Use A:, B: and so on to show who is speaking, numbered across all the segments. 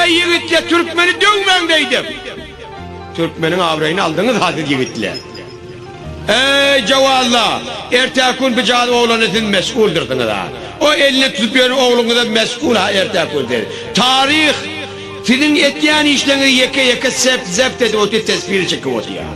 A: Äý ýigitler türkmeni döwmäň beýdip. Türkmeniň abraýyny aldyňyzha siz ýigitler. Äý jowazlar ertäki gün bijan oglana siz mesguldyrsyňyzha. O eline tutup ýören ogluňyzam mesgulha ertäki gün siz. Taryh siziň etýän işleriňizi ýeke ýeke sep zept edip otýar tesbirini çekip otýar.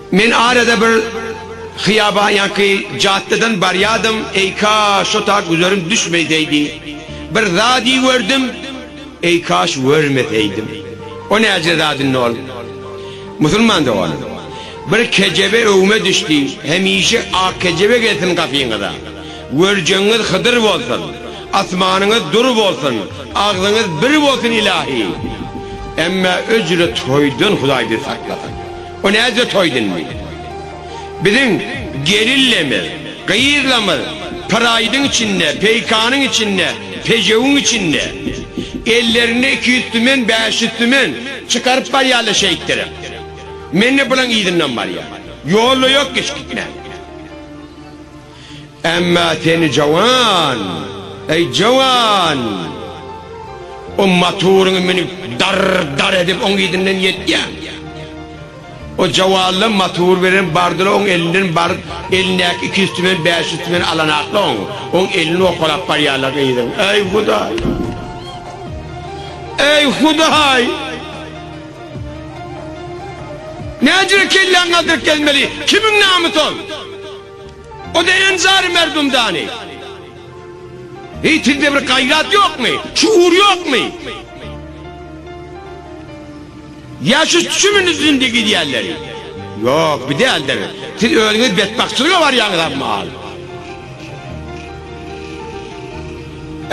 A: Men arada bir hyýaban ýaňky jaddadan barýadym, eýkaş şo tat güzerim düşmeýseýdi. Bir zady gördüm, eýkaş görmeseýdim. O näce zadyndy ol? Musulman doganym, bir kejebe öwme düşdi, hemişe ak kejebe gelsin gapyňyza. Görjegiňiz Hydyr bolsun, asmanyňyz dur bolsun, agzyňyz bir bolsun ilahi! Emmä öjre toýdan Hudaý bizi saklasyn. O näce toy dindi. Biziň gelillemiz, gyzlamyz pyraýdyň içinde, peýkanyň içinde, pejewiň içinde. Ellerinde iki ýüz tümen, bäş ýüz tümen çykaryp barýarlar şeýtdirip. Men-de bulaň yzyndan barýan. Ýolda ýok geçgitmän. Emma seni jowan, eý, jowan! O motoryňy münüp, darr-darr edip, oň yzyndan ýetýäň. O jowanla motor bilen bardylar, oň elinden baryp, elindäki iki üsti bilen bäş üsti bilen alanaklar, oň, oň elini owkalap barýarlar gyzyň. Eý, Hudaý! Eý, Hudaý! Nädire kelläňi galdyryp gezmeli, kimiň namy sol? O deren jary merdum dani. Eý sizde bir gaýrat ýokmy? Şuur ýokmy? Ýa şu tüşümi nüzünde gidýänleri? Ýok, bi däldir. Siz özüňiz betbagtçylyga barýaňyz ammal.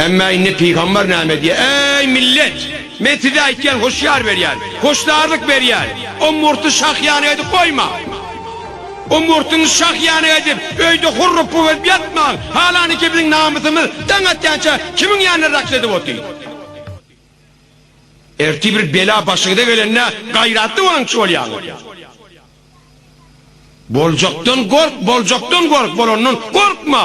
A: Emma indi pygambar näme diýýär? Eý millet! Men size aýtýan hoşýar berýän, hoşdarlyk berýän. O murty şah ýanyga edip goýma. Ümurtyňy şah ýanyk edip, öýde hurrupy bolup ýatmaň! Halany ki, biziň namysymyz daň atýança kimiň ýanyna raks edip otyň? Ertir bir bela başyňyza gelende gaýratly bolaňçy bolýaňyz. Boljakdan gork, boljakdan gork, bolandan gorkma!